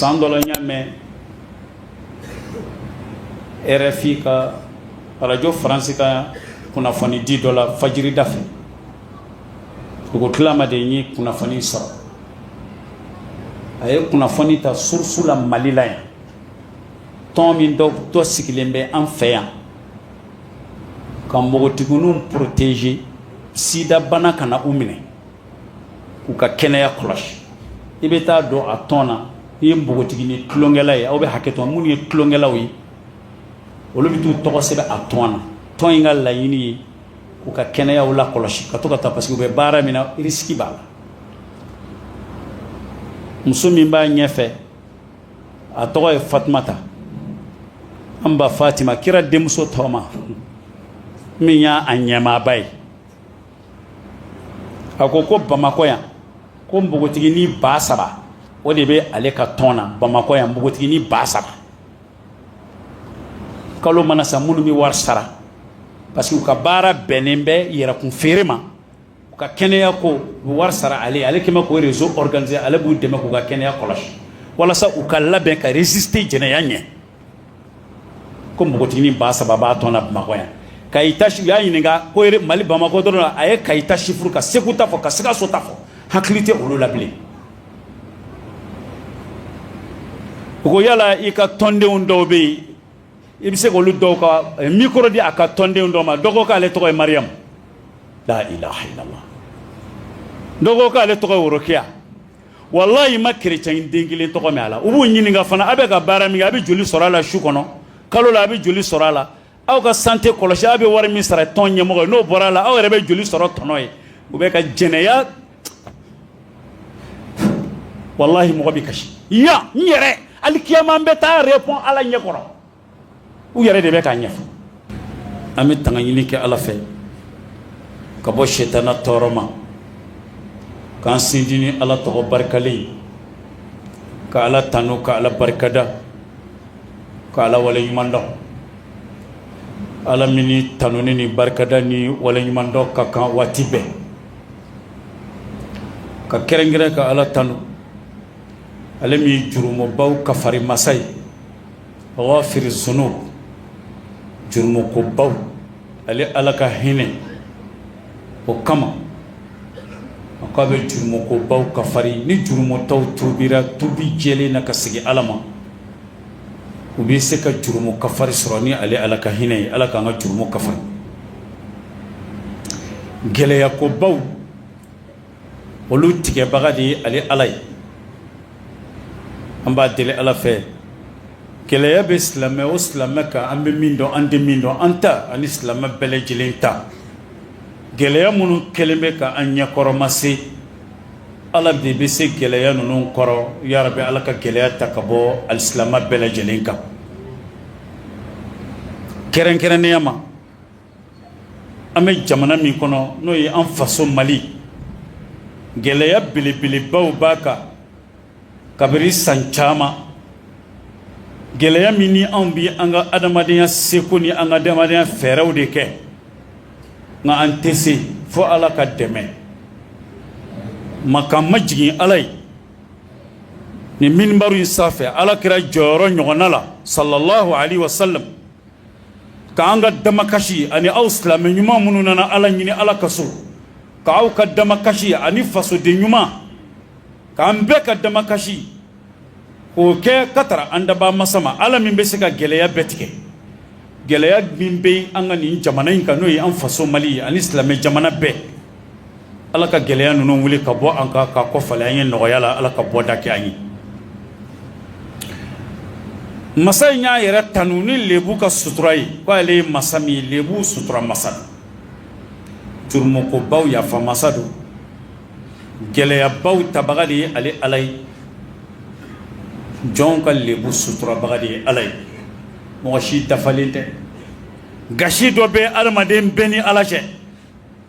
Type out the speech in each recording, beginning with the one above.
san dɔ la n y'a mɛn rfi ka arajo faransi ka kunnafoni di dɔ la fajirida fɛ dugu tilama de ye kunnafoni sɔrɔ a ye kunnafoni ta source la mali la yan tɔn min dɔ dɔ sigilen bɛ an fɛ yan ka npogotigininw protéger sida bana kana u minɛ k'u ka kɛnɛya kɔlɔsi i bɛ taa don a tɔn na n'i ye npogotigini tulonkɛla ye aw bɛ hakɛ to minnu ye tulonkɛlaw ye olu bɛ t'u tɔgɔ sɛbɛn a tɔn na tɔn in ka laɲini ye k'u ka kɛnɛya lakɔlɔsi ka to ka taa parce que u bɛ baara min na risque b'a la muso min b'a ɲɛfɛ a tɔgɔ ye Fatumata an ba Fatima kira denmuso tɔgɔma min y'a ɲɛmaaba ye a ko ko bamakɔ yan ko npogotigini ba saba o de bɛ ale ka tɔn na bamakɔ yan npogotigini ba saba kalo mana sa minnu bɛ wari sara parce que u ka baara bɛnnen bɛ yɛrɛkun feere ma u ka kɛnɛya ko u bɛ wari sara ale ale kɛmɛ k'o réseau organiser ale b'u dɛmɛ k'u ka kɛnɛya kɔlɔsi walasa u ka labɛn ka résister jɛnɛya ɲɛ ko npogotigini ba saba b'a tɔn na Bamakɔ yan Kayi ta u y'a ɲininka ko Mali Bamakɔ dɔrɔn a ye Kayi ta chiffre ka Segu ta fɔ ka Sikaso ta fɔ hakili tɛ olu la bilen u ko yala i ka tɔndenw dɔw bɛ yen i bɛ se k'olu dɔw ka eh, micro di a ka tɔndenw dɔw ma dɔ ko k'ale tɔgɔ ye Mariam la ilaha illallah dɔ ko k'ale tɔgɔ ye Worokiya walahi n ma chrétien den kelen tɔgɔ mɛn a la u b'u ɲininka fana aw bɛ ka baara min kɛ a bɛ joli sɔrɔ a la su kɔnɔ kalo la a bɛ joli sɔrɔ a la aw ka santé kɔlɔsi aw bɛ wari min sara tɔn ɲɛmɔgɔ ye n'o bɔra a la aw yɛrɛ bɛ joli sɔrɔ tɔnɔ ye u bɛ ka jɛnɛya walahi mɔgɔ bɛ kasi yan n yɛrɛ alikiyama n bɛ taa répond ala ɲɛ kɔrɔ u yɛrɛ de bɛ k'a ɲɛfɔ an bɛ tanga ɲini kɛ ala fɛ ka bɔ sitana tɔɔrɔ ma k'an sindi ni ala tɔgɔ barikalen ye ka ala tanu ka ala barikada ka ala wale ɲumandɔn ala min ni tanuni ni barikada ni wale ɲumandɔn ka kan waati bɛɛ ka kɛrɛnkɛrɛn ka ala tanu ale min ye jurumubaw kafari masa ye ghafiri zunub jurumu ko baw ale ala ka hinɛ o kama a k'a bɛ jurumu ko baw kafari ni jurumutɔw tubira tubi jɛlen na ka segin ala ma u bɛ se ka jurumu kafari sɔrɔ ni ale ala ka hinɛ ye ala k'an ka jurumu kafari gɛlɛya ko baw olu tigɛbaga de ye ale ala ye an b'a deli ala fɛ gɛlɛya bɛ silamɛ o silamɛ kan an bɛ min dɔn an tɛ min dɔn an ta ani silamɛ bɛɛ lajɛlen ta gɛlɛya minnu kɛlen bɛ ka an ɲɛkɔrɔma se ala de bɛ se gɛlɛya ninnu kɔrɔ ya rabi ala ka gɛlɛya ta ka bɔ alisilamɛ bɛɛ lajɛlen kan kɛrɛnkɛrɛnnenya ma an bɛ jamana min kɔnɔ n'o ye an faso mali gɛlɛya belebelebaw b'a kan kabiri san caman gɛlɛya min ni anw bɛ an ka adamadenya seko ni an ka adamadenya fɛɛrɛw de kɛ nka an tɛ se fo ala ka dɛmɛ ma k'an majigin ala ye nin minibari in sanfɛ ala kira jɔyɔrɔ ɲɔgɔnna la salalahu alayihi wasalamu k'an ka damakasi ani aw silamɛ ɲuman minnu nana ala ɲini ala ka so k'aw ka damakasi ani fasoden ɲuman k'an bɛɛ ka damakasi k'o kɛ ka tara an daba masa ma ala min bɛ se ka gɛlɛya bɛɛ tigɛ gɛlɛya min bɛ an ka nin jamana in kan n'o ye an faso mali ani silamɛ jamana bɛɛ ala ka gɛlɛya ninnu wuli ka bɔ an kan ka kɔ falen an ye nɔgɔya la ala ka bɔda kɛ an ye masa in y'a yɛrɛ tanu ni lebu ka sutura ye ko ale ye masa min ye lebu sutura masa jurumukobaw yafa masa don gɛlɛyabaw tabaga de ye ale ala ye jɔnw ka lebu suturabaga de ye ala ye mɔgɔ si dafalen tɛ gasi dɔ bɛ adamaden bɛɛ ni ala cɛ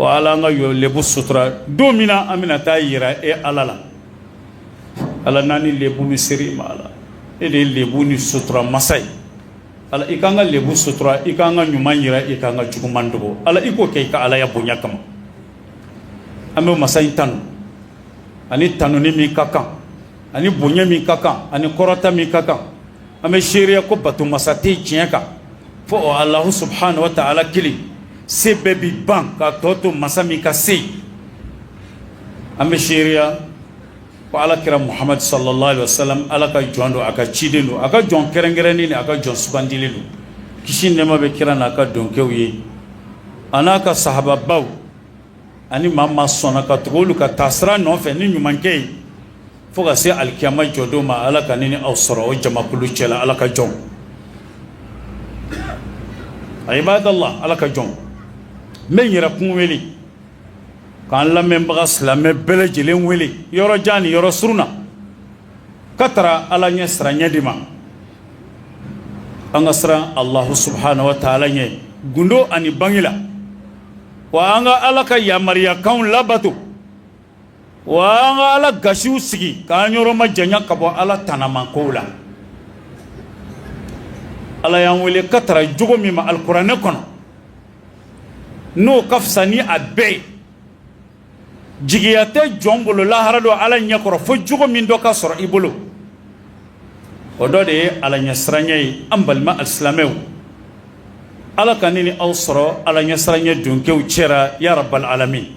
Wa ala an ka lebu sutura don min na an bɛna taa yira e ala la ala n'an ni lebu min sera i ma ala e de ye lebu nin sutura masa ye ala i k'an ka lebu sutura i k'an ka ɲuman yira i k'an ka juguman dogo ala i k'o kɛ i ka alaya bonya kama an bɛ masa in tanu a ni tanuni min ka kan a ni bonya min ka kan a ni kɔrɔta min ka kan An bɛ seereya ko bato masa tɛ tiɲɛ kan fo alahu subuhanahu wa ta'ala kelen se bɛɛ bɛ ban ka tɔ to masa min ka se an bɛ seereya ko ala kira muhamadu salalahu alayihi wasalamu ala ka jɔn don a ka ciden don a ka jɔn kɛrɛnkɛrɛnnen don a ka jɔn sugandilen don kisi nɛɛma bɛ kira n'a ka dungɛw ye a n'a ka sahababaw ani maa maa sɔnna ka tugu olu ka taasira nɔfɛ ni ɲumankɛ ye Fo ka se alikiyama jɔdon ma ala ka ne ni aw sɔrɔ o jamakulu cɛla ala ka jɔn ibadallah ala ka jɔn n bɛ n yɛrɛkun wele k'an lamɛnbaga silamɛ bɛɛ lajɛlen wele yɔrɔ jan ni yɔrɔ surun na ka taara ala ɲɛsiranɲɛ de ma an ka siran alahu subhanahu wa taala ɲɛ gundo ani bange la wa an ka ala ka yamariyakanw labato Wa an ka ala gasiw sigi k'an yɔrɔ majanya ka bɔ ala tanamakow la ala y'an wele ka taara jogo min ma alikuranɛ kɔnɔ n'o ka fisa ni a bɛɛ ye jigiya tɛ jɔn bolo lahara don ala ɲɛkɔrɔ fo jogo min dɔ ka sɔrɔ i bolo o dɔ de ye ala ɲɛsiranɲɛ ye an balima alisilamɛw ala ka ne ni aw sɔrɔ ala ɲɛsiranɲɛ donkew cɛra ya rabbal alamin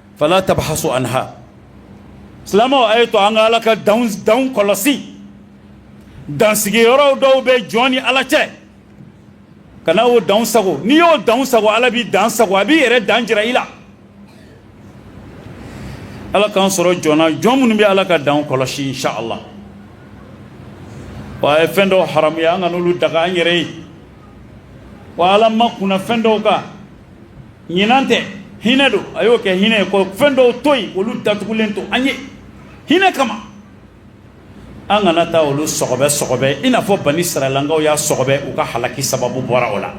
fala tabhasu anha silamɛw a ye to an ka ala ka danw kɔlɔsi dansigiyɔrɔw dɔw bɛ jɔn ni ala cɛ kana o danw sagon n'i y'o danw sagon ala b'i dan sagon a b'i yɛrɛ dan jira i la ala k'an sɔrɔ jɔn na jɔn minnu bɛ ala ka danw kɔlɔsi inshallah wa a ye fɛn dɔw haramuya an kan'olu daga an yɛrɛ ye wa ala makunna fɛn dɔw kan ɲina tɛ hinɛ don a y'o kɛ hinɛ ye ko fɛn dɔw to yen olu datugulen to an ye hinɛ kama an kana taa olu sɔgɔbɛ sɔgɔbɛ i n'a fɔ bani israɛlankaw y'a sɔgɔbɛ u ka halaki sababu bɔra o la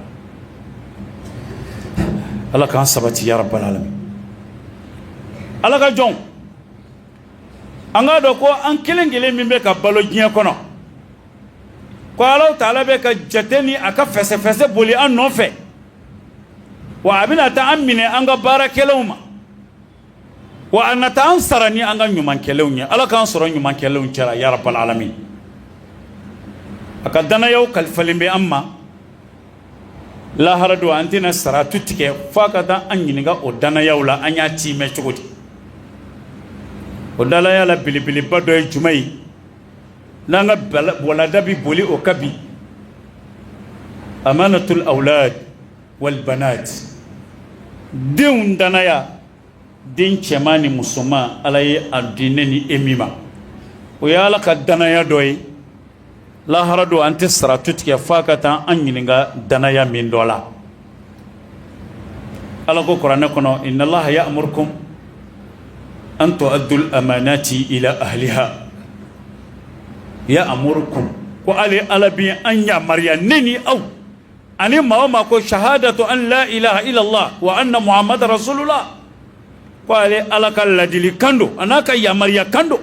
ala k'an sabati ya rabbal alamin ala ka jɔnw an k'a dɔn ko an kelen kelen min bɛ ka balo diɲɛ kɔnɔ ko ala taala bɛ ka jate ni a ka fɛsɛfɛsɛ boli an nɔfɛ wa a bɛna taa an minɛ an ka baara kɛlenw ma wa a na taa an sara ni an ka ɲuman kɛlenw ye ala k'an sɔrɔ ɲumankɛlaw cɛla ya rabbal alamin a ka danayaw kalifalen bɛ an ma lahara don an tɛna siratu tigɛ fo a ka taa an ɲininka o danayaw la an y'a tiimɛ cogo di o danaya la belebeleba dɔ ye jumɛn ye n'an ka walanda bɛ boli o kan bi amanatul awlad wal banat denw danaya den cɛman ni musoman ala ye a di ne ni e min ma o ye ala ka danaya dɔ ye lahara don an tɛ siratu tigɛ fo ka taa an ɲininka danaya min dɔ la ala ko kuranɛ kɔnɔ inna allaha ya'murukum an tu'addul amanati ila ahliha ya'murukum ko ale ala bɛ an yamaruya ne ni aw ani maa o maa ko shahadatu an la ilaha illallah wa anna muhammada rasulullah ko ale ala ka laadilikan don a n'a ka yamaruyakan don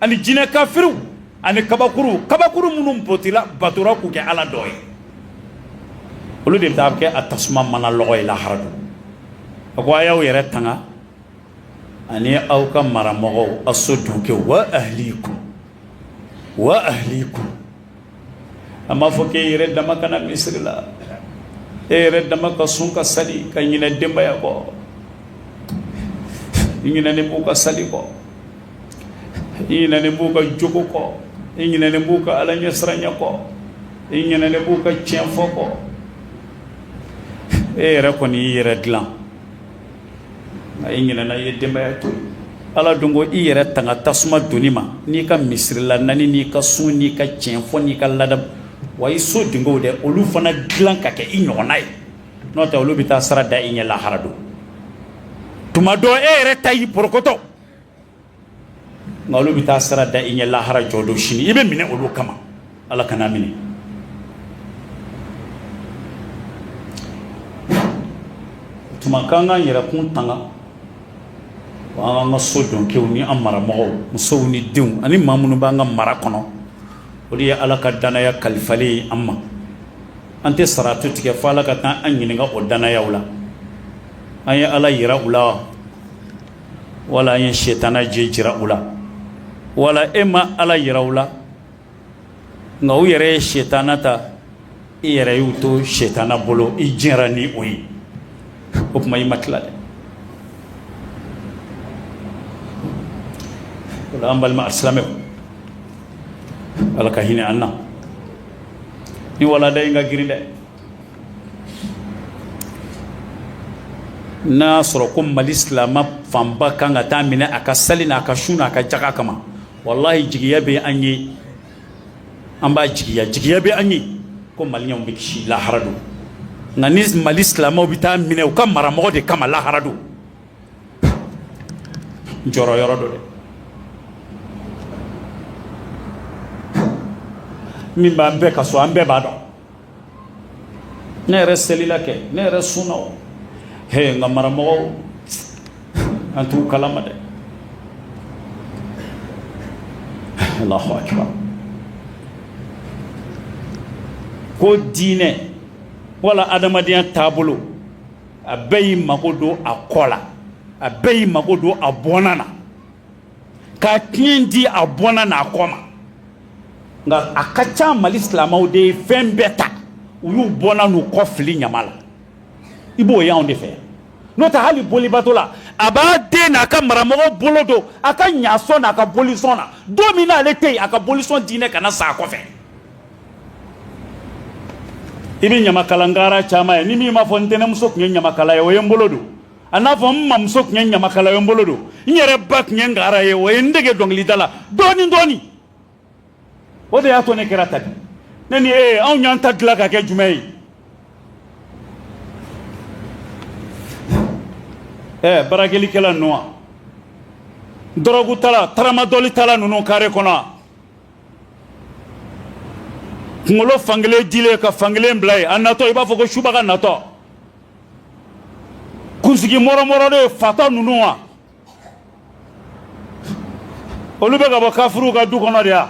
ani jinɛ kafiriw ani kabakurun kabakurun minnu botila batora k'u kɛ ala dɔ ye olu de bɛ taa kɛ a tasuma mana lɔgɔ ye lahara don a ko a y'aw yɛrɛ tanga ani aw ka maramɔgɔw a so dunkɛw wa ahlikum wa ahlikum a m'a fɔ k'e yɛrɛ dama ka na misiri la e yɛrɛ dama ka sun ka sali ka ɲinɛ denbaya kɔ i ɲinɛnen b'u ka sali kɔ i ɲinɛnen b'u ka jogo kɔ i ɲinɛnen b'u ka ala ɲɛsiranya kɔ i ɲinɛnen b'u ka tiɲɛ fɔ kɔ e yɛrɛ kɔni y'i yɛrɛ dilan A i ɲinɛna i ye denbaya to ala dun ko i yɛrɛ tanga tasuma doni ma n'i ka misiri la nani n'i ka sun n'i ka tiɲɛ fɔ n'i ka ladamu wa i so denkɛ de olu fana dilan ka kɛ i ɲɔgɔnna ye n'o tɛ olu bɛ taa sira da i ɲɛ lahara don tuma dɔ e yɛrɛ ta y'i porokoto nka olu bɛ taa sira da i ɲɛ lahara jɔ don sini i bɛ minɛ olu kama ala kan'an minɛ tuma k'an k'an yɛrɛkun tanga wa an k'an ka so dɔnkew ni an maramɔgɔw musow ni denw ani maa minnu b'an ka mara kɔnɔ o de ye ala ka danaya kalifalen ye an ma an tɛ siratu tigɛ fo ala ka taa an ɲininka o danayaw la an ye ala yira u la wa wala i ye sitanɛ jɛ jira u la wala e ma ala yira u la nka u yɛrɛ ye sitanɛ ta e yɛrɛ y'u to sitanɛ bolo i jɛra ni o ye o tuma i ma tila dɛ o la an balima silamɛ ala ka hinɛ an na nin walanda in ka girin dɛ N'a y'a sɔrɔ ko mali silamɛ fanba kan ka taa minɛ a ka sali n' a ka sun a ka jaka kama wallahi jigiya bɛ an ye an b'a jigiya jigiya bɛ an ye ko maliyɛnw bɛ kisi lahara don nka ni mali silamɛw bɛ taa minɛ u ka maramɔgɔw de kama lahara don jɔrɔyɔrɔ don dɛ min b'an bɛɛ ka so an bɛɛ b'a dɔn ne yɛrɛ selila kɛ ne yɛrɛ sunna o he nka maramɔgɔ an t'u kalama dɛ Allahu akbar ko diinɛ wala adamadenya taabolo a bɛɛ y'i mago don a kɔ la a bɛɛ y'i mago don a bɔnna na ka tiɲɛ di a bɔnna n'a kɔ ma nka a ka ca mali silamɛw de ye fɛn bɛɛ ta u y'u bɔnna n'u kɔ fili ɲama la i b'o y'anw de fɛ n'o tɛ hali bolibatola a b'a den n'a ka maramɔgɔ bolo don a ka ɲasɔn n'a ka bolisɔn na don min n'ale tɛ yen a ka bolisɔn diinɛ kana sa a kɔfɛ i bɛ ɲamakala ngara caman ye ni min m'a fɔ n tɛnɛmuso tun ye ɲamakala ye o ye n bolo don a n'a fɔ n mamuso tun ye ɲamakala ye o ye n bolo don n yɛrɛ ba tun ye ngara ye o ye n dege dɔnkilida la dɔɔni dɔɔni o de y'a to ne kɛra tan bi ne ni e anw y'an ta dilan ka kɛ jumɛn ye ɛ barakelikɛla ninnu wa dɔrɔgutala taramadɔlitala ninnu kare kɔnɔ wa kunkolo fankelen dilen ka fankelen bila yen a natɔ i b'a fɔ ko subaga natɔ kunsigi mɔrɔmɔrɔlen fatɔ ninnu wa olu bɛ ka bɔ kafiruw ka du kɔnɔ de ya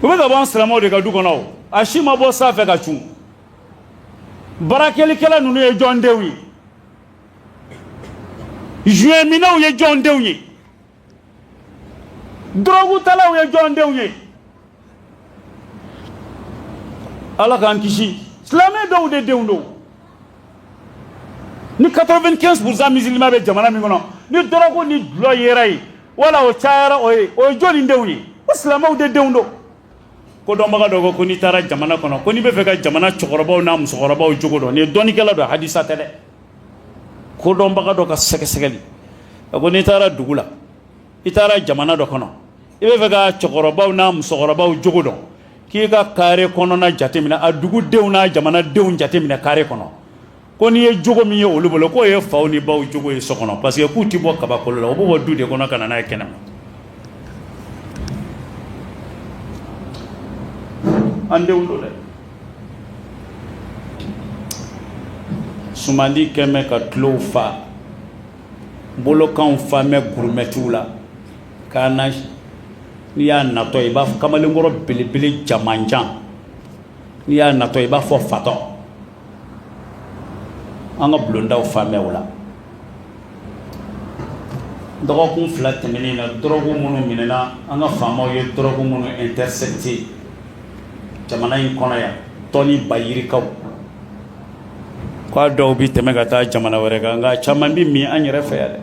u bɛ ka bɔ an silamɛw de ka du kɔnɔ o a si ma bɔ sanfɛ ka cun barakelikɛla ninnu ye jɔn denw ye joint minnaw ye jɔn denw ye dɔrɔgutalaw ye jɔn denw ye ala k'an kisi silamɛ dɔw de denw don ni 95 pourcent musulman bɛ jamana min kɔnɔ ni dɔrɔgu ni dulɔ yera yen wala o cayara o ye jɔni denw ye ko silamɛw de denw don kodɔnbaga dɔ ko ko n'i taara jamana kɔnɔ ko n'i bɛ fɛ ka jamana cɛkɔrɔbaw n'a musokɔrɔbaw jogo dɔn nin ye dɔnnikɛla dɔ hadisa tɛ dɛ kodɔnbaga dɔ ka sɛgɛsɛgɛli a ko n'i taara dugu la i taara jamana dɔ kɔnɔ i bɛ fɛ ka cɛkɔrɔbaw n'a musokɔrɔbaw jogo dɔn k'i ka kare kɔnɔna jateminɛ a dugudenw n'a jamanadenw jateminɛ kare kɔnɔ ko n'i ye jogo min ye olu bolo k'o ye faw ni baw jogo ye so kɔnɔ parce que k'u tɛ bɔ kabakolo la u b'o bɔ du de kɔnɔ ka na n'a ye kɛnɛma an denw don dɛ sumandi kɛ mɛ ka tulow fa bolokanw fa mɛ gurumɛtiw la k'a na n'i y'a natɔ i b'a fɔ kamalenkɔrɔ belebele jamanjan n'i y'a natɔ i b'a fɔ fatɔ an ka bulondaw fa mɛ u la Dɔgɔkun fila tɛmɛnen na dɔrɔgu minnu minɛna an ka faamaw ye dɔrɔgu minnu intercepter jamana in kɔnɔ yan tɔni ba yirikaw k'a dɔw bɛ tɛmɛ ka taa jamana wɛrɛ kan nka caman bɛ min an yɛrɛ fɛ yan dɛ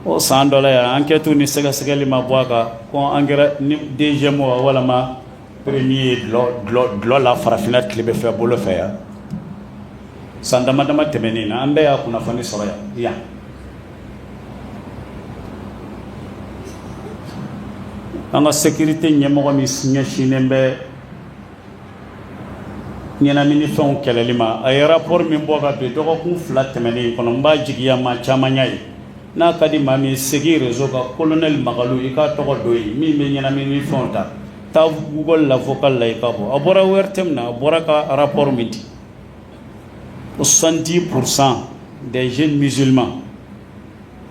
o san dɔ la yan enquête ni sɛgɛsɛgɛli ma bɔ a kan ko an kɛra ni deuxième walima Premier ye dulɔ la farafinna tilebin fɛ bolo fɛ yan san dama dama tɛmɛnen na an bɛɛ y'a kunnafoni sɔrɔ yan an ka sécurité ɲɛmɔgɔ min ɲɛsinnen bɛ ɲɛnamini fɛnw kɛlɛli ma a ye rapport min bɔ ka bɛn dɔgɔkun fila tɛmɛnen kɔnɔ n b'a jigiya maa caman y'a ye N'a ka di maa min ye segin réseau kan kolonɛli Makalu i k'a tɔgɔ don yen min bɛ ɲɛnamini fɛnw ta taa Google la vocal la i ka bɔ a bɔra ORTM na a bɔra ka rapport min di soixante-dix pour cent des jeunes musulmans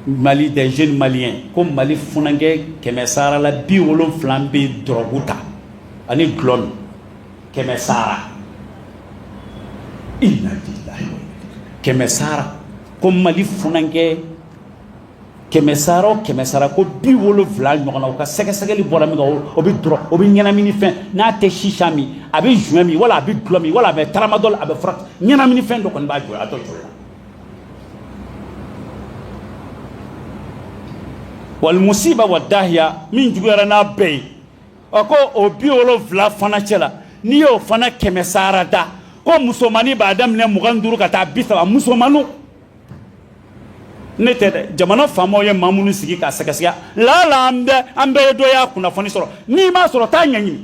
mali des jeunes maliens ko mali funankɛ kɛmɛ sarala bi wolonfila bɛ dɔrɔgu ta ani dulɔ min kɛmɛ sara i kɛmɛ sara ko mali funankɛ kɛmɛ sara o kɛmɛ sara ko bi wolonfila ɲɔgɔnna u ka sɛgɛsɛgɛli bɔra min o bɛ dɔrɔgu o bɛ ɲɛnamini fɛn n'a tɛ chicha min a bɛ joint min wala a bɛ dulɔ min wala a bɛ tramadol a bɛ fura ɲɛnamini fɛn dɔ kɔni b'a jɔ a dɔ jɔ wal musiba wa dahiya min juguyara n'a bɛɛ ye ɔ ko o bi wolonfila fana cɛ la n'i y'o fana kɛmɛ sara da ko musomannin b'a daminɛ mugan duuru ka taa bi saba musomanninw ne tɛ dɛ jamana faamaw ye maa minnu sigi k'a sɛgɛsɛgɛ laala an bɛɛ an bɛɛ ye dɔ y'a kunnafoni sɔrɔ n'i m'a sɔrɔ t'a ɲɛɲini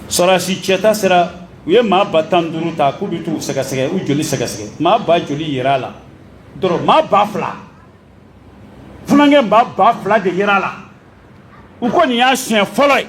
sɔrɔsi cɛta sera u ye maa ba tan duuru ta k'u bɛ t'u sɛgɛsɛgɛ u joli sɛgɛsɛgɛ maa ba joli yera a la dɔrɔn maa ba fila funankɛ maa ba fila de yera a la u ko nin y'a siɲɛ fɔlɔ ye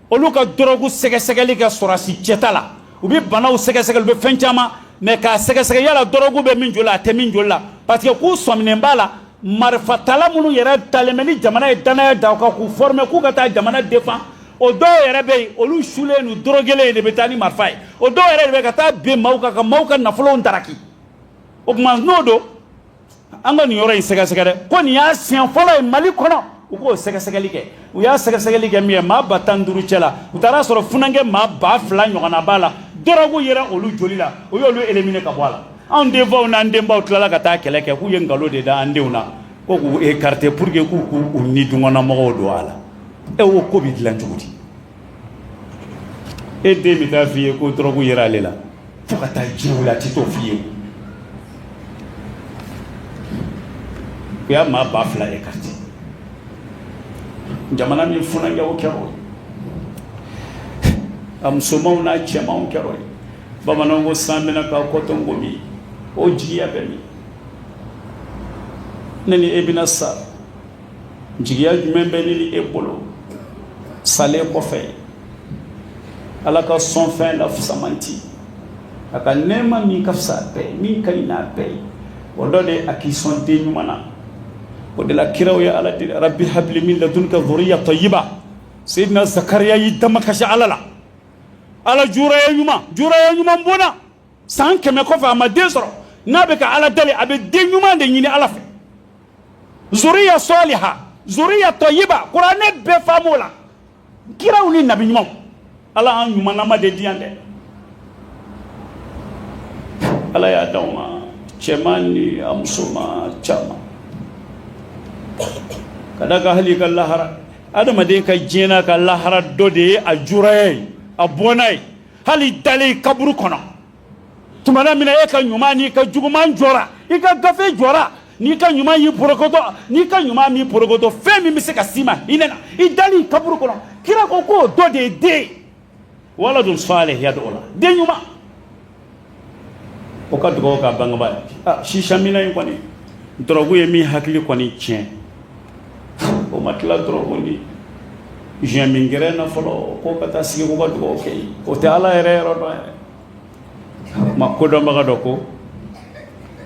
olu ka dɔrɔgu sɛgɛsɛgɛli kɛ sɔrɔsi cɛta la u bɛ banaw sɛgɛsɛgɛli u bɛ fɛn caman mais k'a sɛgɛsɛgɛ yala dɔrɔgu bɛ min joli la a tɛ min joli la parce que k'u sɔminen b'a la marifatala minnu yɛrɛ talen bɛ ni jamana ye dannaya da u kan k'u former k'u ka taa jamana défendre o dɔw yɛrɛ bɛ yen olu sulen n'u dɔrɔgelen de bɛ taa ni marifa ye o dɔw yɛrɛ de bɛ ka taa bin maaw kan ka maaw ka nafolow daraki o tuma n'o don an ka nin yɔrɔ in sɛgɛsɛgɛ dɛ ko nin y'a siɲɛ fɔlɔ ye mali kɔnɔ u k'o sɛgɛsɛgɛli kɛ u y'a sɛgɛsɛgɛli kɛ min ye maa ba tan duuru cɛ la u taara a sɔrɔ funankɛ maa ba fila ɲɔgɔnna b'a la dɔrɔgu yera olu joli la u y'olu éliminer ka bɔ a la anw denfaw n'an denbaw tilala ka taa kɛlɛ kɛ k'u ye nkalon de da an denw na ko k'u écarter pour que k'u k'u ni dungɔnnamɔgɔw don a la e o ko bɛ dilan cogo di e den bɛ taa f'i ye ko dɔrɔgu yira ale la fo ka taa diɲɛ wuli a ti t'o f'i ye o y'a maa ba fila écarter jamana min funankɛ o kɛra o ye a musomanw n'a cɛmanw kɛra o ye bamananw ko san bɛna k'a kɔ to nkomi o jigiya bɛ min ne ni e bɛna sa jigiya jumɛn bɛ ne ni e bolo salen kɔfɛ ala ka sɔnfɛn la fusamanti a ka nɛɛma min ka fisa bɛɛ min ka ɲi n'a bɛɛ ye o dɔ de a k'i sɔn den ɲuman na o de la kiraw ye ala deli rabbi habli min ladunka dhurriya tayyiba sayyidina zakariya y'i damakasi ala la ala juraya ɲuman juraya ɲuman bɔnna san kɛmɛ kɔfɛ a ma den sɔrɔ n'a bɛ ka ala deli a bɛ den ɲuman de ɲini ala fɛ zuriya saliha zuriya tɔyiba kuranɛ bɛɛ faamu la kiraw ni nabi ɲumanw ala an ɲumanlama de di yan dɛ ala y'a d'aw ma cɛman ni a musoman caman ka da ka hali i ka lahara adamaden ka diɲɛ n'a ka lahara dɔ de ye a juraya ye a bɔnna ye hali i dalen kaburu kɔnɔ tumana min na e ka ɲuman n'i ka juguman jɔra i ka gafe jɔra n'i ka ɲuman y'i porokoto n'i ka ɲuman m'i porokoto fɛn min bɛ se ka s'i ma hinɛ na i dalen kaburu kɔnɔ kira ko k'o dɔ de ye den waladun salih yad'u la den ɲuman o ka dugawu k'a bangebaa ye ah, sisamina in kɔni dɔrɔgu ye min hakili kɔni tiɲɛ o ma tila dɔrɔgu ni joint min gɛrɛn na fɔlɔ k'o ka taa sigi k'o ka dugawu kɛ o tɛ ala yɛrɛ yɔrɔ dɔn yɛrɛ maa kodɔnbaga dɔ ko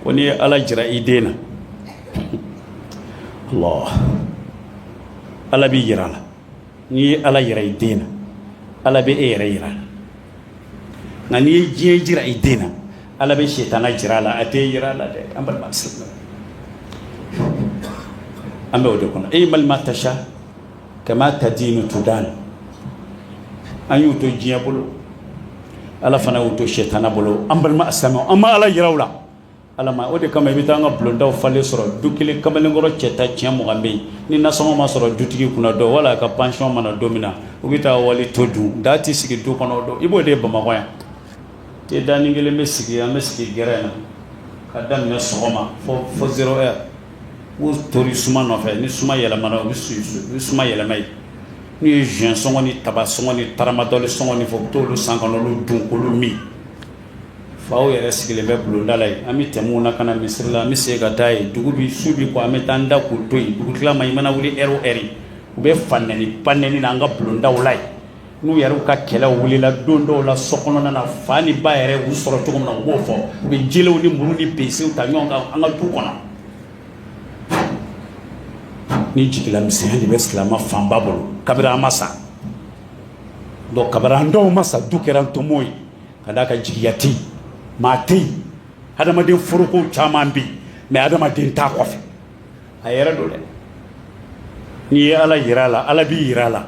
ko n'i ye ala jira i den na Allah ala b'i jira la n'i ye ala jira i den na ala bɛ e yɛrɛ jira la nka n'i ye diɲɛ jira i den na ala bɛ sitana jira la a t'i jira la dɛ an balima silamɛ an bɛ o de kɔnɔ i'mal ma tasha kama tadinu tudan an y'u to diɲɛ bolo ala fana y'u to sɛtana bolo an balima silamɛ an ma ala yira u la ala ma o de kama i bɛ taa an ka bulondaw falen sɔrɔ du kelen kamalenkɔrɔ cɛta tiɲɛ mugan bɛ yen ni nasɔngɔ ma sɔrɔ dutigi kunna don wala a ka pansiyɔn ma na don min na u bɛ taa wali to dun daa tɛ sigi du kɔnɔ o don i b'o de ye bamakɔ yan te daanin kelen bɛ sigi an bɛ sigi gɛrɛn na ka daminɛ sɔgɔma fo fo zero heure U tori suma nɔfɛ ni suma yɛlɛmana u bɛ suma yɛlɛma ye n'u ye jus sɔngɔ ni taba sɔngɔ ni taramadɔli sɔngɔ ɲini fo u t'olu san k'olu dun k'olu min faw yɛrɛ sigilen bɛ bulonda la yen an bɛ tɛmɛ u na ka na misiri la an bɛ segin ka taa yen dugu bɛ su bɛ ko an bɛ taa an da k'u to yen dugu tilama i mana wuli ɛri o ɛri u bɛ fa nɛni ba nɛni na an ka bulondaw la yen N'u yɛrɛ u ka kɛlɛ wulila don dɔw la so kɔnɔna na fa ni ba yɛrɛ u sɔrɔ cogo min na u b'o fɔ u bɛ jelew ni muru ni besew ta ɲɔgɔn kan an ka du kɔnɔ ni jigilamisɛnya de bɛ silamɛ fanba bolo kabini an ma sa don kabini an dɔw ma sa du kɛra ntomo ye ka d'a kan jigiya tɛ yen maa tɛ yen adamaden foroko caman bɛ yen mɛ adamaden t'a kɔfɛ a yɛrɛ don dɛ n'i ye ala jira a la ala b'i jira a la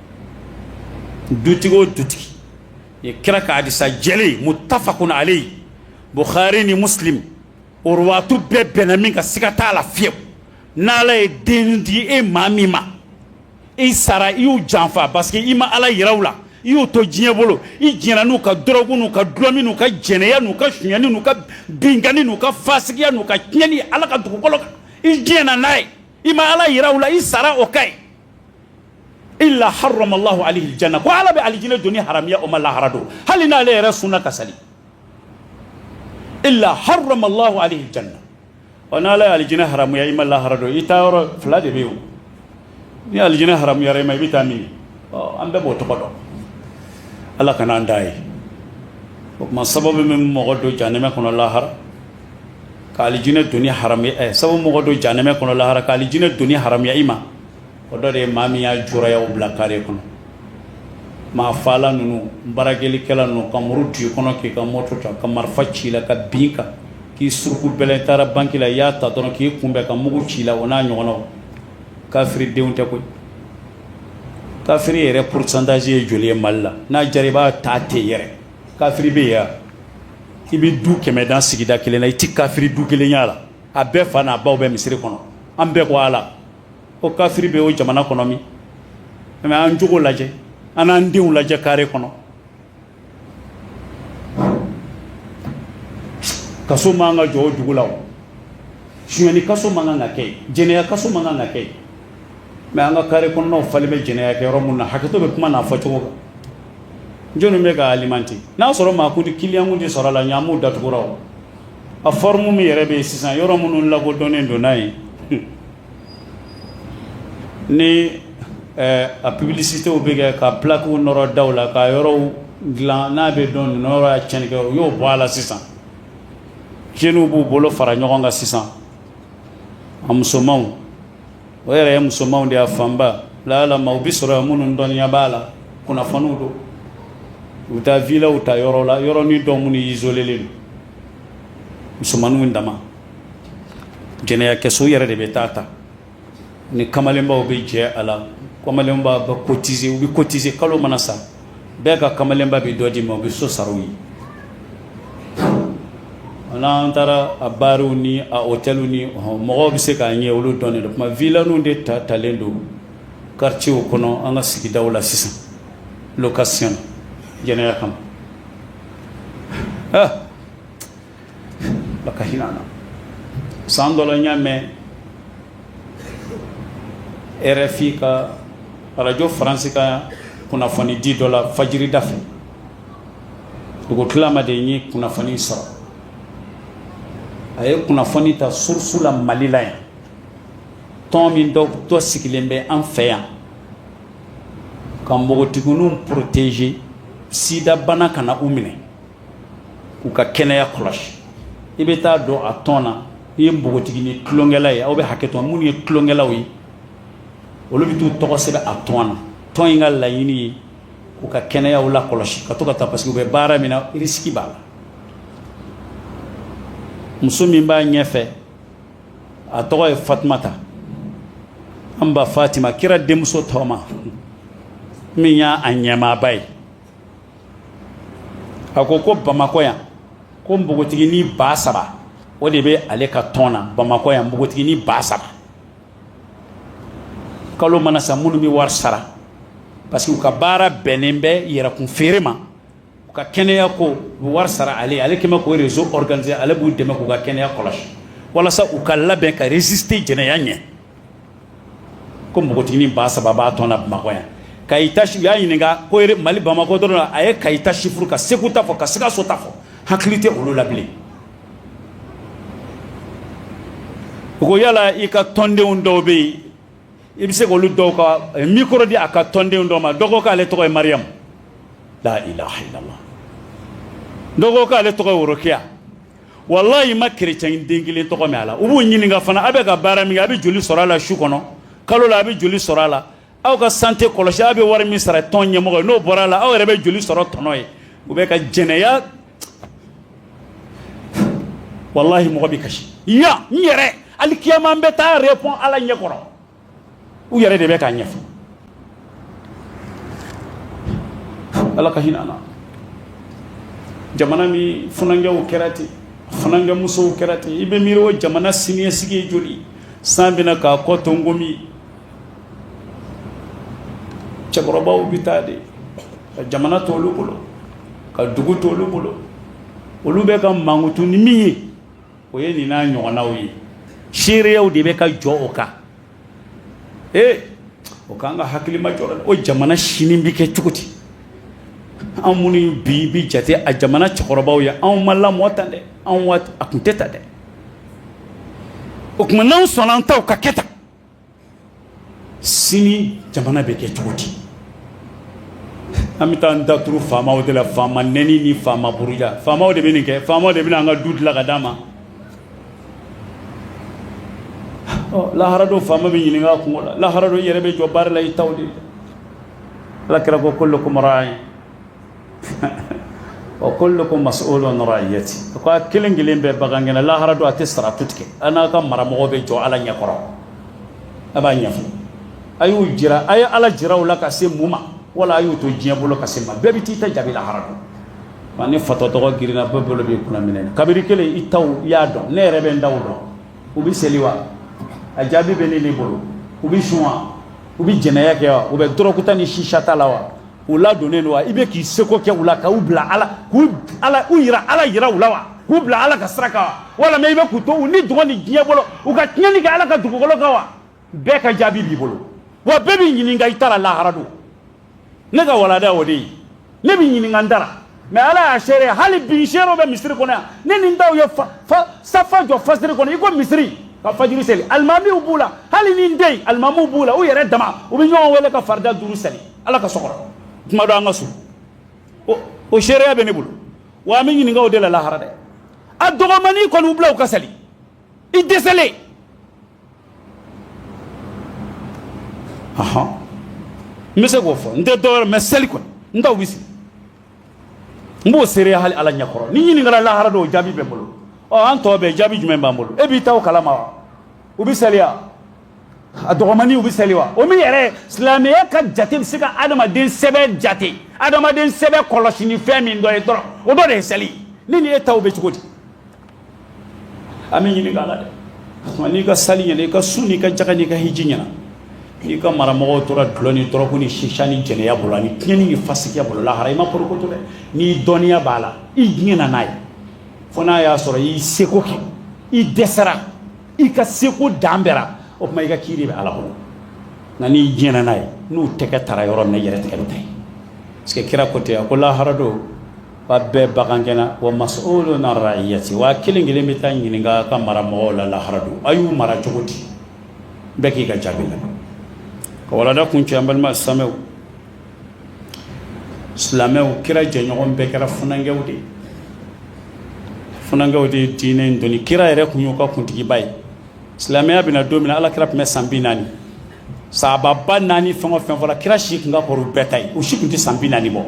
dutigi o dutigi ye kira ka hadisa jɛlen muttafaqun alayhi bukhari ni muslim o ruwaatu bɛɛ bɛnna min kan siga t'a la fiyewu n'ala ye den di e maa min ma i sara i y'u janfa parce que i ma ala yira u la i y'u to diɲɛ bolo i jɛnna n'u ka dɔrɔgu n'u ka dulɔmin n'u ka jɛnɛya n'u ka suɲɛni n'u ka binkani n'u ka fasigiya n'u ka tiɲɛni ala ka dugukolo kan i jɛnna n'a ye i ma ala yira u la i sara o kan ye illa harrama Allahu alayhi aljanna ko ala bɛ alijinɛ doni haramuya o ma lahara don hali n'ale yɛrɛ sunna ka sali illa harrama Allahu alayhi aljanna ɔ n'ala ye alijinɛ haramuya i ma lahara don i taa yɔrɔ fila de bɛ yen ni alijinɛ haramuyara i ma i bɛ taa min ɔ an bɛɛ b'o tɔgɔ dɔn ala kana an da yen o tuma sababu min mɔgɔ don janɛmɛ kɔnɔ lahara ka alijinɛ doni haramuya ɛ sabu mɔgɔ don jahanɛmɛ kɔnɔ lahara ka alijinɛ doni haramuya i ma o dɔ de ye maa min y'a juriyaw bila kare kɔnɔ maa faala ninnu barakelikɛla ninnu ka muru don i kɔnɔ k'i ka moto ta ka marifa ci i la ka bin i kan k'i suruku bɛlɛn taara banki la i y'a ta dɔrɔn k'i kunbɛn ka mugu ci i la o n'a ɲɔgɔnnaw kafiri denw tɛ koyi kafiri yɛrɛ pourcentage ye joli ye Mali la n'a diyara i b'a ta ten yɛrɛ Kafiri bɛ yan i bɛ du kɛmɛ dan sigida kelen na i tɛ kafiri du kelen y'a la a bɛɛ fa n'a baw bɛ misiri kɔnɔ an bɛɛ ko ala o kafiri bɛ o jamana kɔnɔ min mɛ an jogo lajɛ an n'an denw lajɛ kare kɔnɔ kaso man kan ka jɔ o dugu la suɲɛni kaso man kan ka kɛ yen jɛnɛya kaso man kan ka kɛ mɛ an ka kare kɔnɔw falen bɛ jɛnɛya kɛ yɔrɔ min na hakɛto bɛ kuma n'a fɔ cogo kan jɔnni bɛ ka alimenter n'a sɔrɔ maa kun kiliyankun de sɔrɔ a la ɲ'mu datugura a forme min yɛrɛ bɛ yen sisan yɔrɔ minnu lakodɔnnen don n'a ye ni a publicitéw bɛ kɛ ka plakiw nɔrɔ da la ka yɔrɔ dilan n'a bɛ dɔn yɔrɔ cɛnkɛ o y'o bɔ a la sisan jeunes b'u bolo fara ɲɔgɔn kan sisan a musomanw o yɛrɛ ye musomanw de y'a fanba lalama u bɛ sɔrɔ minnu dɔnniya b'a la kunnafoniw don u bɛ taa vilaw ta yɔrɔ la yɔrɔnin dɔw minnu izolelen don musomanninw dama jɛnɛya kɛso yɛrɛ de bɛ taa ta ni kamalenbaw bɛ jɛ a la kamalenbaw bɛ kotise u bɛ kotise kalo mana sa bɛɛ ka kamalenba bɛ dɔ d'i ma o bɛ so sara u ye n'an taara a bariw ni a hôtels ni mɔgɔw bɛ se k'a ɲɛ olu dɔnnen don kuma vilaninw de ta talen don quartiers kɔnɔ an ka sigidaw la sisan location jɛnɛya kama ah la ka hinɛ an na san dɔ la n y'a mɛn RFI ka arajo faransi ka kunnafoni di dɔ la fajirida fɛ dugu tilama de ye kunnafoni sɔrɔ a ye kunnafoni ta surusu la mali la yan tɔn min dɔ dɔ sigilen bɛ an fɛ yan ka npogotigininw protéger sidabana kana u minɛ k'u ka kɛnɛya kɔlɔsi i bɛ taa don a tɔn na n'i ye npogotiginin tulonkɛla ye aw bɛ hakɛto minnu ye tulonkɛlaw ye olu bɛ t'u tɔgɔ sɛbɛn a tɔn na tɔn in ka laɲini ye k'u ka kɛnɛya lakɔlɔsi ka to ka taa parce que u bɛ baara min na risque b'a la muso min b'a ɲɛfɛ a tɔgɔ ye Fatumata an ba Fatima kira denmuso tɔgɔma min y'a ɲɛmaaba ye a ko ko bamakɔ yan ko npogotiginin ba saba o de bɛ ale ka tɔn na bamakɔ yan npogotiginin ba saba kalo mana sa minnu bɛ wari sara parce que u ka baara bɛnnen bɛ yɛrɛkun feere ma u ka kɛnɛya ko u bɛ wari sara ale ale kɛmɛ k'o rezo organiser ale b'u dɛmɛ k'u ka kɛnɛya kɔlɔsi walasa u ka labɛn ka résister jɛnɛya ɲɛ ko npogotiginin ba saba b'a tɔn na Bamakɔ yan Kayita u y'a ɲininka ko Mali Bamakɔ dɔrɔn wa a ye Kayi ta chiffre ka Segu ta fɔ ka Sikaso ta fɔ hakili tɛ olu la bilen u ko yala i ka tɔndenw dɔw bɛ yen i bɛ se k'olu dɔw ka eh, micro di a ka tɔndenw dɔw ma dɔ ko k'ale tɔgɔ ye Mariyamu la ilaha illallah dɔ ko k'ale tɔgɔ ye Worokiya walahi i ma kerecɛn den kelen tɔgɔ mɛn a la u b'u ɲininka fana aw bɛ ka baara min kɛ a bɛ joli sɔrɔ a la su kɔnɔ kalo la a bɛ joli sɔrɔ a la aw ka sante kɔlɔsi aw bɛ wari min sara tɔn ɲɛmɔgɔ ye n'o bɔra a la aw yɛrɛ bɛ joli sɔrɔ tɔnɔ ye u bɛ ka jɛnɛya walahi mɔgɔ bɛ kasi yan n yɛrɛ hali kiyama n bɛ taa repɔn ala ɲɛ kɔrɔ u yɛrɛ de bɛ k'a ɲɛfɔ ala ka hinɛ an na jamana min funankɛw kɛra ten funankɛ musow kɛra ten i bɛ miiri o jamana siniɲɛsigi ye joli san bɛna k'a kɔ to n komi cɛkɔrɔbaw bɛ taa de ka jamana to olu bolo ka dugu to olu bolo olu bɛ ka mankutu ni min ye o ye nin n'a ɲɔgɔnnaw ye seereyaw de bɛ ka jɔ o kan ee o k'an ka hakili ma jɔ o jamana sini bɛ kɛ cogo di anw minnu bi bɛ jate a jamana cɛkɔrɔbaw ye anw ma lamɔ tan dɛ anw waati a tun tɛ tan dɛ o tuma n'anw sɔnna an taw ka kɛ tan sini jamana bɛ kɛ cogo di an bɛ taa an da turu faamaw de la faama nɛni ni faama buruja faamaw de bɛ nin kɛ faamaw de bɛ an ka du dilan ka d'a ma lahara don faama bɛ ɲininka a kungo la lahara don i yɛrɛ bɛ jɔ baara la i taw de la ala kira ko kullukum raa'in wa kullukum mas'ulun an ra'iyati ko a kelen kelen bɛɛ bagangɛnna lahara don a tɛ siraatu tigɛ a n'a ka maramɔgɔ bɛ jɔ ala ɲɛ kɔrɔ a b'a ɲɛfɔ a y'u jira a ye ala jira u la ka se mun ma wala a y'u to diɲɛ bolo ka se ma bɛɛ bɛ t'i ta jaabi lahara don wa ni fatɔ tɔgɔ girinna bɛɛ bolo b'i kunna minɛ kabiri kelen i taw i y'a dɔn ne yɛrɛ bɛ n taw dɔn u bɛ seli wa a jaabi bɛ ne bolo u bɛ sun wa u bɛ jɛnɛya kɛ wa u bɛ dɔrɔgu ta ni sisa ta la wa U ladonnen don wa i bɛ k'i seko kɛ u la ka u bila Ala k'u jira Ala jira u la wa k'u bila Ala ka sira kan wa walima i bɛ k'u to u nidungɔ ni diɲɛ bolo u ka tiɲɛni kɛ Ala ka dugukolo kan wa bɛɛ ka jaabi b'i bolo wa bɛɛ bɛ ɲininka i ta ra lahara don ne ka walanda o de ye ne bɛ ɲininka n ta ra mais Ala y'a seere hali bi n seerew bɛ misiri kɔnɔ yan ne ni n taw ye safa jɔ fajiri kɔnɔ i ko misiri ka fajiri seli alimamiw b'u la hali ni n tɛ yen alimamiw b'u la u yɛrɛ dama u bɛ ɲɔgɔn wele ka farida duuru seli ala ka so kɔnɔ tuma dɔ an ka so o seereya bɛ ne bolo wa an bɛ ɲininka o de la lahara dɛ a dɔgɔmani kɔni u bila u ka sali i dɛsɛlen ahan n bɛ se k'o fɔ n tɛ dɔwɛrɛ mɛ seli kɔni n taw bɛ seli n b'o seereya hali ala ɲɛkɔrɔ ni n ɲininkala lahara don o jaabi bɛ n bolo ɔ an tɔ bɛɛ jaabi jumɛn b'an bolo e b'i taw kalama wa u bɛ saliya A dɔgɔmanninw bɛ seli wa o min yɛrɛ silamɛya ka jate bɛ se ka adamaden sɛbɛ jate adamaden sɛbɛ kɔlɔsi ni fɛn min dɔ ye dɔrɔn o dɔ de ye seli ni nin e taw bɛ cogo di an bɛ ɲininka a la dɛ n'i ka seli ɲɛna i ka sun n'i ka jaka n'i ka hiji ɲɛna n'i ka mara mɔgɔw tora dulɔ ni dɔrɔgu ni sisa ni jɛnɛya bolo ani tiɲɛni ni fasikiya bolo lahara i ma porokoto dɛ n'i dɔnniya b'a la i jɛnna n'a ye fo n'a y'a sɔrɔ y'i seko kɛ i dɛsɛra i ka seko dan bɛra o tuma i ka kiiri bɛ ala kɔnɔ nka n'i jɛnna n'a ye n'u tɛgɛ tara yɔrɔ min na i yɛrɛ tɛgɛ bɛ ta yen parce que kira ko ten a ko lahara don wa bɛɛ bagangɛnna wa mas'ulun an ra'iyati wa kelen kelen bɛ taa ɲininka a ka mara mɔgɔw la lahara don a y'u mara cogo di bɛɛ k'i ka jaabi la ka walanda kuncɛ an balima silamɛw silamɛw kira jɛɲɔgɔn bɛɛ kɛra funankɛw de ye funankɛw de ye diinɛ in doni kira yɛrɛ tun y'u ka kuntigiba ye silamɛya bɛna don min na ala kira tun bɛ san bi naani sahaba naani fɛn o fɛn fɔra kira si tun ka kɔrɔ u bɛɛ ta ye u si tun tɛ san bi naani bɔ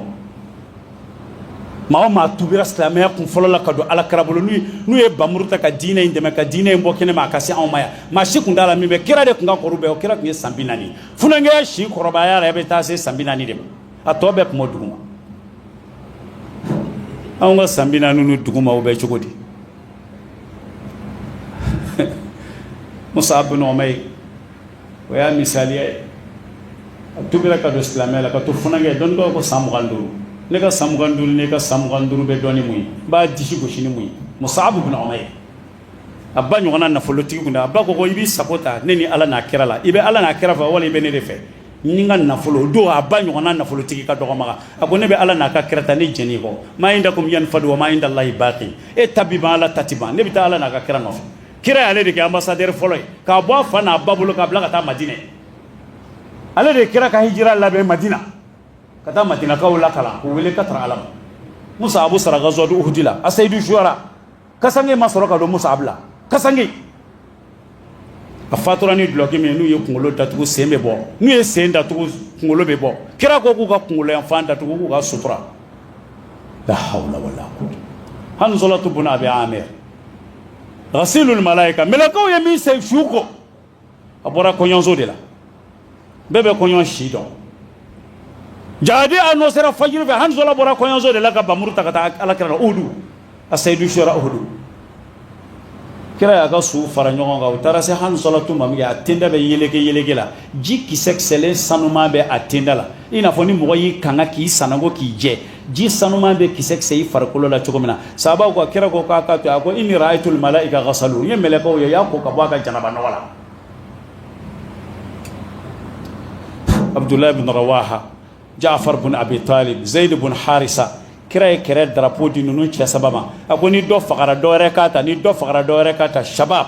maa o maa tubira silamɛya kun fɔlɔ la ka don ala kira bolo n'u ye bamuru ta ka diinɛ in dɛmɛ ka diinɛ in bɔ kɛnɛ ma a ka se anw ma yan maa si tun t'a la min bɛ kira de tun ka kɔrɔ bɛɛ o kira tun ye san bi naani Funankɛya si kɔrɔbaya yɛrɛ bɛ taa se san bi naani de ma a tɔ bɛɛ kun b'a dugu ma anw ka san bi naani n'o dugu ma o bɛ cogo di musabu bun umayr o y'a misali ye a tubira ka don silamɛya la ka to funankɛ dɔn dɔw ko san mugan duuru ne ka san mugan duuru ne ka san mugan duuru bɛ dɔn ni mun ye b'a disi gosi ni mun ye musabu bun umayr a ba ɲɔgɔnna nafolotigi kun a ba ko i b'i sago ta ne ni ala n'a kira la i bɛ ala n'a kira fɛ wala i bɛ ne de fɛ ni ka nafolo don a ba ɲɔgɔnna nafolotigi ka dɔgɔ maka a ko ne bɛ ala n'a ka kira ta ne jɛnn'i kɔ ma indakum yanfadu wa ma indallahi baqin e ta bi ban ala ta ti ban ne bɛ taa ala n'a ka kira nɔfɛ kira y'ale de kɛ ambassadeur fɔlɔ ye k'a bɔ a fa n'a ba bolo k'a bila ka taa madinɛ ale de ye kira ka hijira labɛn madina ka taa madinakaw lakalan k'u wele ka taa ala ma musabu sara gazwatu uhud la a seyidu sara kasange ma sɔrɔ ka don musabu la kasange a fatura ni dulɔki min n'u ye kunkolo datugu sen bɛ bɔ n'u ye sen datugu kunkolo bɛ bɔ kira ko k'u ka kunkolo yanfan datugu k'u ka sutura la hawla wala quwwata hanzalatu bun abi amir ghasilul malaika mɛlɛkɛw ye min se su ko a bɔra kɔɲɔso de la bɛɛ bɛ kɔɲɔ si dɔn jihadi anɔnsera fajiri fɛ hanzala bɔra kɔɲɔso de la ka bamuru ta ka taa ala kira la uhudu a seyidu sara uhudu kira y'a ka su fara ɲɔgɔn kan u taara se hanzalatu ma min kɛ a tenda bɛ yeleke yeleke la ji kisɛ kisɛlen sanuma bɛ a tenda la i n'a fɔ ni mɔgɔ y'i kanga k'i sananko k'i jɛ ji sanuman bɛ kisɛkisɛ i farikolo la cogo min na sahabaw ko kira ko k'a ka to a ko inni ra'aytul malaika ghasalu n ye mɛlɛkɛw ye y'a ko ka bɔ a ka janaba nɔgɔ la Abdullah ibn Rawaha Ja'far bin Abi Talib Zaid bin Harisa kira ye kɛlɛ darapo di ninnu cɛ saba ma a ko ni dɔ fagara dɔwɛrɛ k'a ta ni dɔ fagara dɔwɛrɛ k'a ta shabab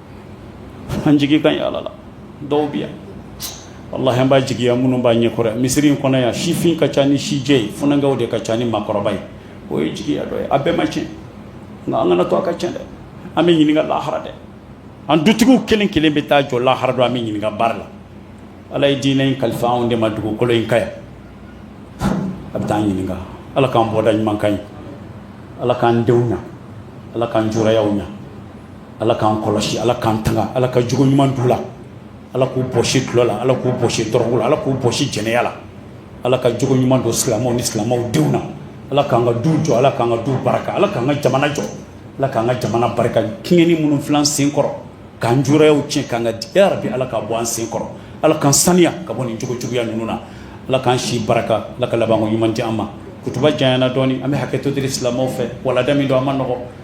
an jigi ka ɲi ala la dɔw bɛ yan walahi an b'a jigiya minnu b'a ɲɛkɔrɔ yan misiri in kɔnɔ yan sifin ka ca ni sijɛ ye funankɛw de ka ca ni maakɔrɔba ye o ye jigiya dɔ ye a bɛɛ ma tiɲɛ nka an kan'a to a ka tiɲɛ dɛ an bɛ ɲininka lahara dɛ an dutigiw kelen kelen bɛ taa jɔ lahara dɔ an bɛ ɲininka baara la ala ye diinɛ in kalifa anw de ma dugukolo in kan yan a bɛ taa an ɲininka ala k'an bɔda ɲuman ka ɲi ala k'an denw ɲa ala k'an jurayaw ɲa Ala k'an kɔlɔsi ala k'an tanga ala ka jogo ɲuman d'u la ala k'u bɔsi dulɔ la ala k'u bɔsi dɔrɔgu la ala k'u bɔsi jɛnɛya la ala ka jogo ɲuman don silamɛw ni silamɛw denw na ala k'an ka du jɔ ala k'an ka du barika ala k'an ka jamana jɔ ala k'an ka jamana barika tiɲɛni minnu filan sen kɔrɔ k'an jurayaw tiɲɛ k'an ka ya rabbi ala k'a bɔ an sen kɔrɔ ala k'an saniya ka bɔ nin cogo juguya ninnu na ala k'an si barika ala ka laban ɲuman di an ma kutuba janyana dɔɔni an bɛ hakɛto deli silamɛw fɛ walada min don an ma nɔgɔ